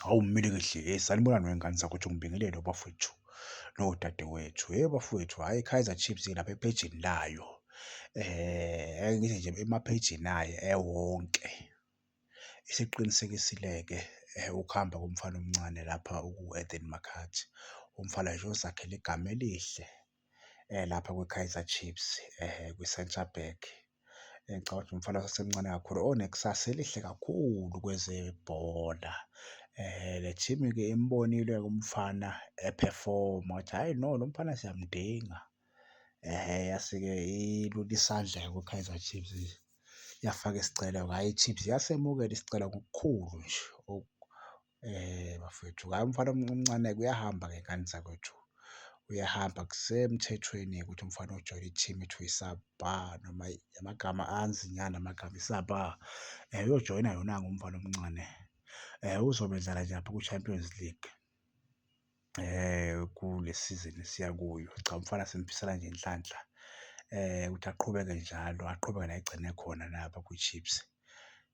Hawu mmile kahle hey sanibonani wengane zakho uthi ngibingelele bafowethu nodadewethu hey bafowethu hhayi Kaizer Chiefs lapha ephejini layo eh ngithi nje emaphejini ayo ewonke isiqinisekisile-ke eh, ukuhamba komfana omncane lapha uku-Eden Makhathi umfana nje ozakhele igama elihle lapha kwiKaizer Chiefs kwiCentre Back. Ngicabanga ukuthi umfana osasemncane kakhulu onekusasa elihle kakhulu kwezebhola. Le team-ke imbonile-ke umfana ephefoma ukuthi hhayi no lo mfana siyamdinga. Yase-ke ilule isandla-ke kwiKaizer Chiefs yafaka isicelo-ke, hhayi iChiefs yasemukela isicelo ngokukhulu nje . Eh bafethu hayi umfana omncane kuyahamba ngengane zakwethu. Uyahamba kusemthethweni ukuthi umfana ojoyina i-team ekuthiwa isabha noma amagama anzi nyana amagama isabha uyojoyina yona-ke umfana omncane. Uzobenzela nje lapha ku-Champions League. kule sizini esiya kuyo. Cha, umfana simfisela nje inhlanhla ukuthi aqhubeke njalo, aqhubeke la egcine khona lapha kwiChiefs.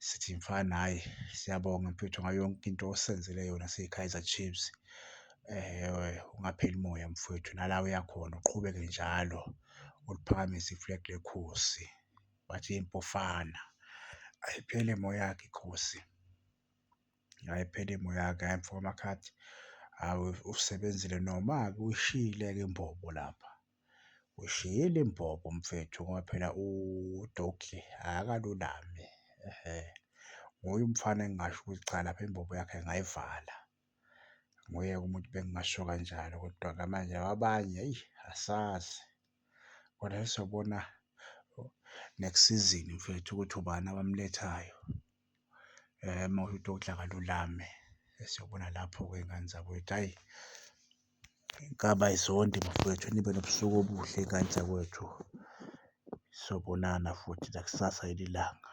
Sithi mfana hhayi siyabonga mfwethu ngayo yonke into osenzele yona siyiKaizer Chiefs. Ungapheli moya mfwethu nala uyakhona uqhubeke njalo uliphakamise i-flag leKhosi. Bathi impofana ayipheli moya-ke iKhosi. Hhayi phela imoya-ke hhayi mfo kaMakhadzi, hhawu usebenzile noma-ke uyishiyile-ke imbobo lapha. Uyishiyile imbobo mfethu ngoba phela uDoki akalulame, ehhe. Nguye umfana engingasho ukuthi cha lapha imbobo yakhe ngayivala. Nguye-ke umuntu bengingasho kanjalo kodwa-ke manje abanye eyi asazi. Kodwa sesizobona next sizini mfethu ukuthi ubani abamulethayo. Uma kuwukuthi ukudla akalulame siyobona lapho-ke ngane zakwethu. Hhayi inkabi ayizondi bafwethu nibe nobusuku obuhle ngane zakwethu. Sobonana futhi nakusasa ngelinye ilanga.